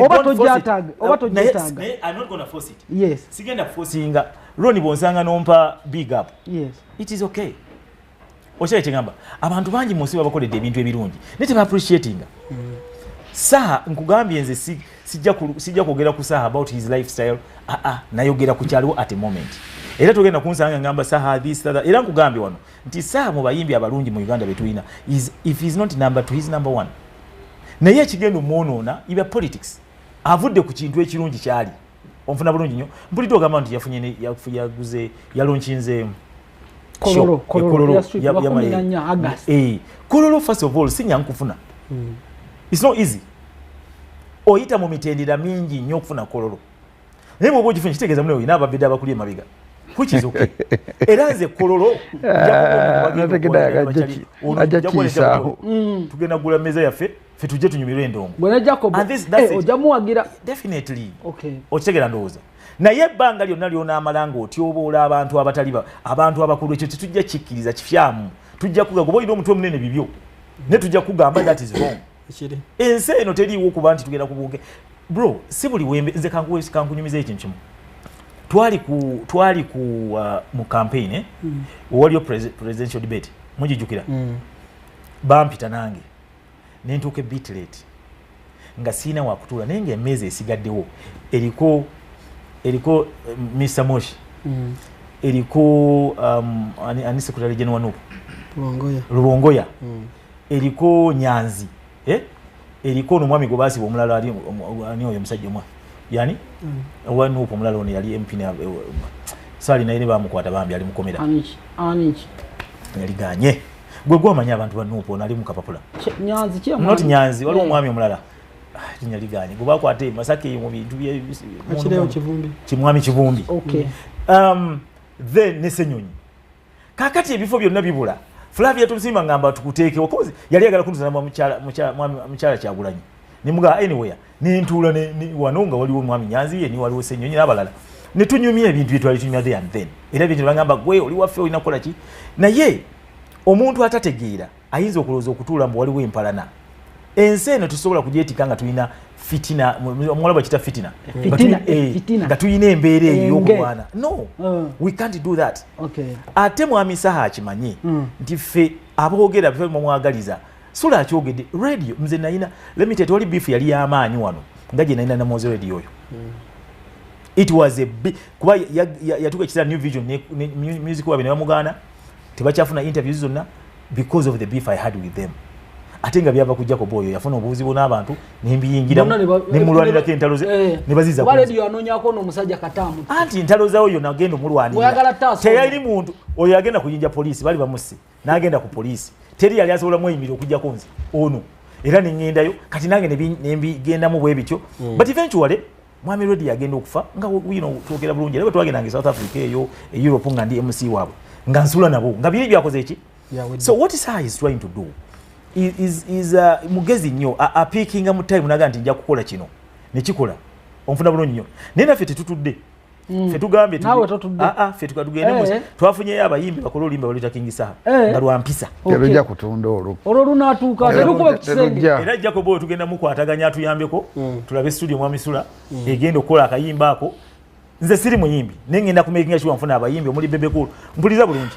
oba tojataga oba tojataga naye i'm not going to force it yes sigenda forcinga roni bonsanga nompa big up yes it is okay okyali kyegamba abantu bangi mu nsi babakoledde ebintu ebirungi naye tebaappreciatinga mm. saha nkugambye nze si, sijja kwogera ku saha about his lifestyle aa ah, ah, nayogera ku kyaliwo at a moment era togenda kunsanga ngamba saha this era nkugambye wano nti saa mu bayimbi abalungi mu uganda betulina if he's not number two he's number one naye ekigenda omwonoona ibya politics avudde ku kintu ekirungi kyali onfuna bulungi nyo mpulidde ogamba nti yafunye yaguze yalonkinze kololo eh, eh, first of all sinya nkufuna hmm. it's not easy oyita mu mitendera mingi nyo okufuna kololo naye bwoba okifunye kitegeeza mune olina ababede abakuli emabiga kukizuke era nze kololo ah, mm. tugenda gula meza yaffe fetuje tunyumirwe endongojamuwagira eh, okitegera ndowooza naye ebbanga lyonna lyonaamala nga otyoboola abantu abatali abantu abakulu ekyo tetujja kikkiriza kifyamu tujja kuga kuba olina omutwe omunene bibyo ne tujja kugamba that is wrong ensi eno teriiwo kuba nti tugenda kubuuke bro si buli wembe nze kankuwe kankunyumiza ekintu kimu twali ku twali ku uh, mu campaign eh? mm. waliyo presidential debate mujijukira mm. bampita nange nentuuka ebit late nga siina wakutuula naye nga emeeza esigaddewo eriko eriko eh, mr moshi mm. eriko um, ani, ani secretary general nup lubongoya, lubongoya. Mm. eriko nyanzi eh? eriko ono mwami gwebaziba omulala ali oyo omusajja omwa yani mm. owa nup omulala ono yali mp eh, sali naye ne bamukwata bambi ali mukomera yaliganye gwe gwamanya abantu banup ono ali mukapapula not nyanzi waliwo eh. omwami omulala linya ah, liganye gwe bakwata e masaka eyo mu bintu kimwami kivumbi um, then nesenyonyi kakati ebifo byonna bibula flavia tumusiima ngamba tukuteekewo kozi yali agala kunzana mukyala kyagulanyi nemugaa anywhere nentuula wano nga waliwo mwami nyanzi ye niwaliwo senyonyi nabalala netunyumya ebintu byetwali tunyumya the and then era bintu nebagamba gwe oli waffe olina kukola ki naye omuntu atategeera ayinza okulowooza okutuula mbu waliwo empalana ensi eno tusobola kugyetika nga tulina fitina omuwala bakita fitina eh, nga tulina embeera eyo yokulwana no uh. we can't do that ate mwami saha akimanyi hmm. nti ffe aboogera bife mumwagaliza sula akyogedde radio nze nayina limited wali bifu yali yamaanyi wano nga gye nayina namozi radio oyo hmm. it was a kuba yatuka ekisera new vision music wabe ne bamugaana tebakyafuna interviews zonna because of the beef i had with them ate nga byava ku jacob oyo yafuna obubuzibu n'abantu nembiyingiramu nemulwanirako entalo ze eh. nebazizaanonyako nomusajja katamu anti entalo zawo yo nagenda omulwanira teyali muntu oyo agenda kuyinja poliisi bali bamusse n'agenda ku poliisi teri yali asobola mweyimirira okujjako nze ono era nengendayo kati nange nembigendamu bwebityo mm. but eventually mwami redi yagenda okufa nga twogera bulungi era bwetwagendanga e south africa eyo e europe nga ndi mc waabwe nga nsula nabo nga biri byakoze eki so what is is trying to do is, is uh, mugezi nnyo apiikinga mu time naga nti nja kukola kino nekikola onfuna bulungi nnyo naye naffe tetutudde mm. fetugambye fe tugende eh. twafunyeyo abayimbi bakole oluyimba baluyita king saha eh. nga lwampisa terujja kutunda olwo olwo lunaatuuka terukuba kisenge era jacob oyo tugenda mukwataganya atuyambeko hmm. tulabe studio mwamisula hmm. egenda okukola akayimba ako nze siri muyimbi naye ngenda kumakinga kiwa nfuna abayimbi omuli bebekulu mpuliza bulungi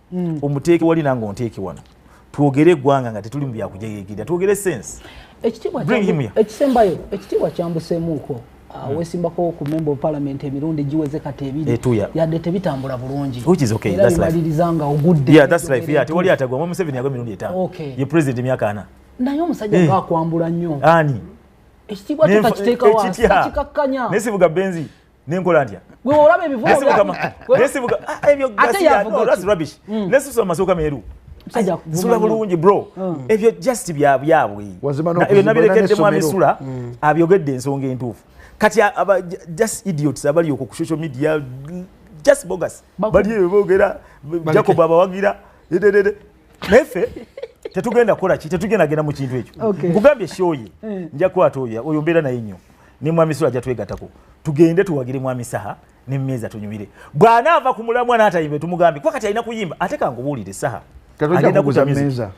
mm. omuteeke wali nange onteeke wano twogere eggwanga nga tetuli mu byakujegegera twogere sense ekisembayo ekitiibwa kyambuseemuuko ah, hmm. wesimbako ku member of parliament emirundi giweze kati ebiri eh, yadde tebitambula bulungi era bimaliriza nga ogudde tewali atagwamu museveni yago emirundi etaano ye president emyaka ana naye omusajja eh. gaakwambula nnyo ani ekitiibwa kyo takiteekawa takikakkanya naye sivuga benzi nenkola ntya bweolaba ebivugaesivuga ah, ebyo gasiyaolasi rubbish mm. nesisusa mu masooka meeru sula bulungi bro mm. ebyo just byabwebyo nabirekedde mwami sula mm. abyogedde ensonga entuufu kati just idiots abali okwo ku social media just bogus bali ebyo boogera jacob abawagira naye ffe tetugenda kukola ki tetugenda genda mu kintu ekyo nkugambye shoye eh. nja kukwata oyo oyo mbeera naye nnyo ne mwami sula ajja twegatako tugende tuwagire mwami saha ne mmeeza tunyumire bw'anaava ku mulamwa n'atayimbe tumugambe kuba kati alina kuyimba ate kangubuulire saha agenda kuza mmeeza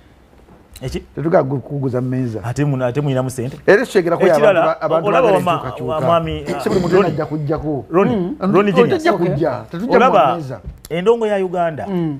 tetugakuguza mumeza ate mulinamu sente era ekitegera kuyaolaba endongo ya uganda mm.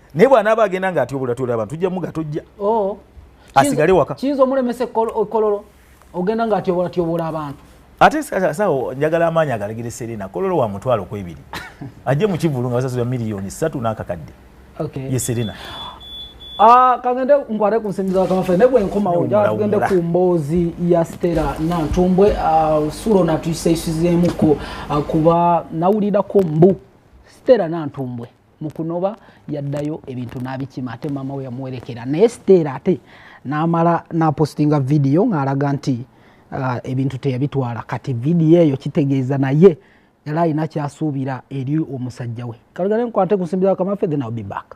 naye bwanaaba agenda nga atyobolatyola abantu tujja muga tojja oh. asigale waka kiyinza omulemesa ekololo ogenda nga atyobolatyobola abantu ate sawo njagala amaanyi agalegere serena kololo wa mutwalo kwebiri ajje mu kivulu nga basasula miliyoni satu n'akakadde ye serena ah, kagende nkwate ku nsimbi zakamafe naye bwenkomawo njala tugende ku mboozi ya stera nantumbwe ah, sulo natuisaisizeemuko ah, kuba nawulirako mbu stera nantumbwe mukunoba yaddayo ebintu n'abikima ate maama we yamuwerekera naye siteera ate n'amala n'apostinga vidiyo ng'alaga nti uh, ebintu teyabitwala kati vidiyo eyo kitegeeza naye yali alina kyasuubira eri omusajja we kalugale nkwate kusimbiza kamafe then I'll be back